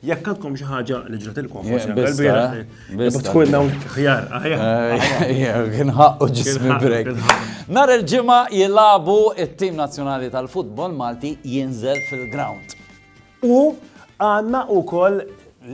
Jekk għandkom xi ħaġa li ġratilkom forsi anke l-bieraħ. Biss tkun hawn ħjar. Kien ħaqqu ġismi brek. Nar il-ġimgħa jilagħbu it-tim nazzjonali tal-futbol Malti jinżel fil-ground. U għandna wkoll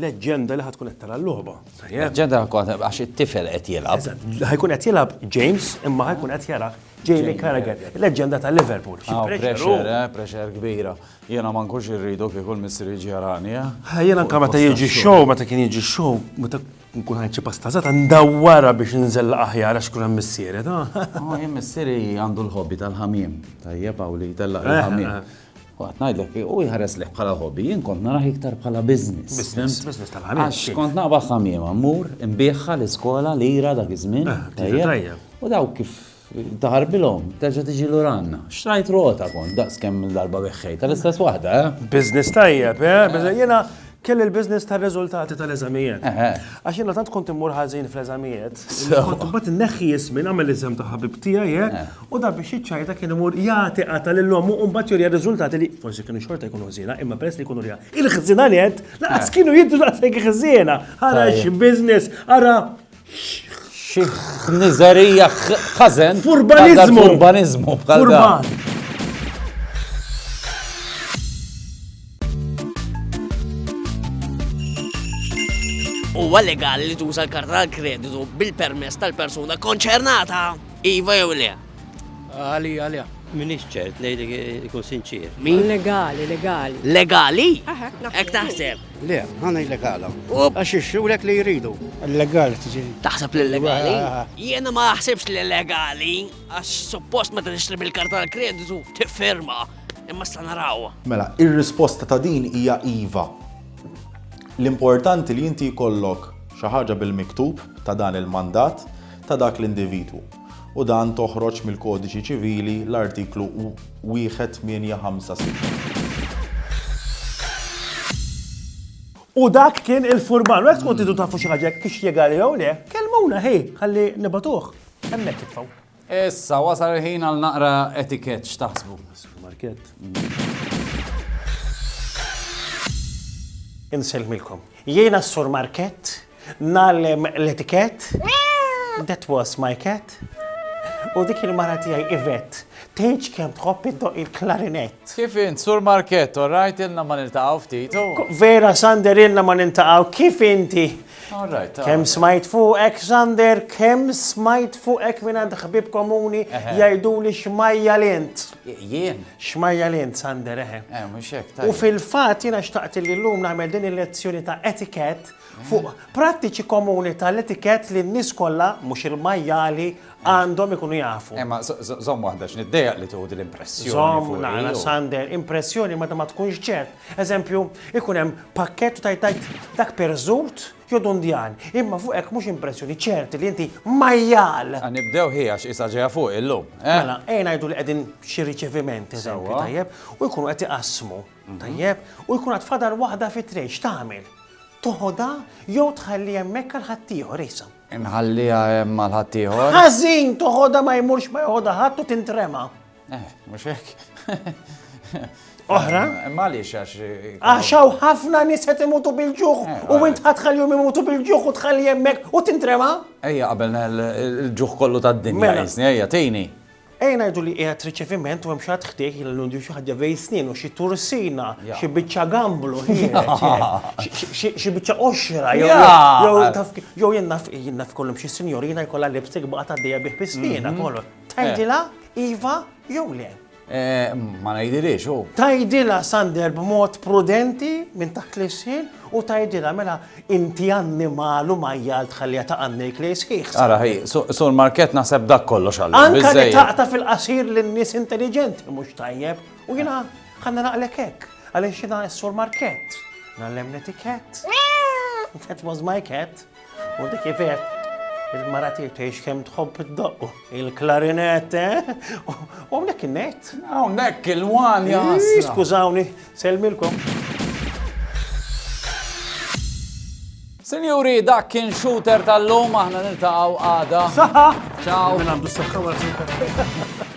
leġġenda li ħatkun qed tara l-logħba. Leġġenda għax it-tifel qed jilgħab. Ħajkun qed jilgħab James imma ħajkun qed jara Jamie Carragher, leġġenda tal-Liverpool. Pressure, eh, pressure kbira. Jiena ma nkunx irridu kieku l-missier jiġi jarani, eh? Ha, jiena anke meta jiġi show, meta kien jiġi show, meta nkun ħajt xi pasta żgħata ndawwarha biex inżella aħjar għax kun hemm missieri, ta? Ma jien missieri għandu l-hobby tal-ħamiem, tajjeb hawn li jtellaq eh, il-ħamiem. Eh. Waqt ngħidlek, u jħares leħ bħala hobby, jien kont narah iktar bħala business. Business, business tal-ħamim. Għax kont naqba ħamim, ammur, imbieħħa l-iskola, lira dak iż-żmien. Eh, u daw kif Taħarbilhom, terġa' tiġi lura għandna. Xtrajt rota kont daqs kemm il-darba beħħej tal-istess waħda, eh? Business tajjeb, eh? eh. Jiena kelli l-business tar-riżultati tal-eżamijiet. Eh, eh. Għax jiena tant kont immur ħażin fl-eżamijiet. Kont imbagħad inneħħi jismin għamel l-iżem ta' ħabib tiegħi, eh? U dan biex jiċċajta kien imur jagħti qata lil ommu u mbagħad jurja riżultati li forsi kienu xorta jkunu ħżiena, imma peress li jkunu rja. Il-ħżiena li qed laqas kienu jiddu daqshekk ħżiena. Ara xi business, ara Nizerija ħazen. Furbanizmu. Furbanizmu. Furban. Huwa legali li tuża l-karta tal-kreditu bil-permess tal-persuna konċernata. Iva jew le? Għali, għali. Minix ċert, nejli ikun sinċir. Min? Legali, legali. Legali? Ek taħseb. Le, ħa ngħidlek għala. Għax ixxulek li jridu. Illegali tiġi. Taħseb li illegali? Jiena ma naħsibx li illegali għax suppost meta tixtri bil-karta tal-kreditu tifferma. Imma sta naraw. Mela, ir-risposta ta' din hija iva. L-importanti li inti jkollok xi ħaġa bil-miktub ta' dan il-mandat ta' dak l-individwu. u dan toħroġ mill-Kodiċi Ċivili l-Artiklu 1856. U dak kien il-furman, għek tkun tidu tafu xaġek kix jiegali jew le, kelmuna ħi, għalli nibatuħ, emmek titfaw. Issa, wasal il-ħin għal naqra etikett x'taħsbu. Market. Inselmilkom. Jiena s-sur Market Ngħallem l-etikett, that was my cat. U dik il-mara tiegħi Ivet, tgħidx kemm tħobb iddoq il-klarinett. Kif int, Sur Markett, all right, ilna ma niltaqgħu ftit. Oh. Vera, Sander, ilna ma niltaqgħu, kif inti? All right. all Kemm right. smajt fuqek, Sander, kemm smajt fuqek minn għand ħbib komuni Eħe. jgħidu li xmajja l-int. Jien? Xmajja l-int, Sander, eħe. Eh, mhux hekk, U tajjeb. fil-fat jina xtaqt li l-lum namel din il-lezzjoni ta' etiket fuq prattiċi komuni tal-etikett li n-nies kollha, mhux il-majjali, għandhom ikunu jafu. Imma żomm waħda x'niddejjaq li tieħu din l-impressjoni. Żomm nara Sander, impressjoni meta ma tkunx ċert. Eżempju, ikun hemm pakkett u tajtajt dak perżut jew dundjan. Imma fuq hekk mhux impressjoni ċerti li inti majjal. Nibdew ħi għax isa ġejja fuq illum. Mela, ejn ngħidu li qegħdin xi riċeviment, eżempju tajjeb, u jkunu qed iqassmu. Tajjeb, u jkun għad fadal waħda fit-train, x'tagħmel? Toħodha jew tħalliha hemmhekk għal ħaddieħor issa? Inħalliha hemm għal ħaddieħor. Ħażin toħodha ma jmurx ma joħodha ħadd u tintrema. Eh, mhux hekk. Oħra? Eh, Malix għax. Eh, Għaxaw ħafna nies qed imutu bil-ġuħ eh, u int ħadħallihom imutu bil-ġuħ u tħalli hemmhekk u tintrema? Ejja qabel il-ġuħ kollu tad-dinja. Mela. Ejja, tejni. Ejja ngħidu li qiegħed riċeviment u hemm xi ħadd ħdejh li l-lundju xi ħaġa bejn snienu, xi tursina, xi biċċa gamblu, xi biċċa qoxra, jew jien naf jien naf kollhom xi sinjorina jkollha lipstick baqa' tgħaddejja bih bi sniena mhm. kollu. Tgħidilha iva jew le. Eh, ma ngħidiliex u. Tgħidilha Sander b'mod prudenti minn taħt l-isħin u tgħidilha mela Inti annimal u majjal tħallija ta' għannejk lejn sħiħ, sa. Ara hi, Sur Markett naħseb dak kollox għallum, biżżejjed. Anka li taqta' fil-qasir lil nies intelliġenti mhux tajjeb, u jiena ħanna naqlek hekk, għaliex jiena s-Sur Markett, ngħallem l-etikett. That was my cat. U dik hi vera, il-mara tiegħi tgħix kemm tħobb iddoqqu. Il-klarinett, eh? U hawnhekk in-net. Hawnhekk il-wan jasna. Skużawni, selmilkom. Sinjuri, dak kien shooter tal-lum, aħna niltaqgħu għada. Saħħa! Ciao! Minn għandu s-saħħa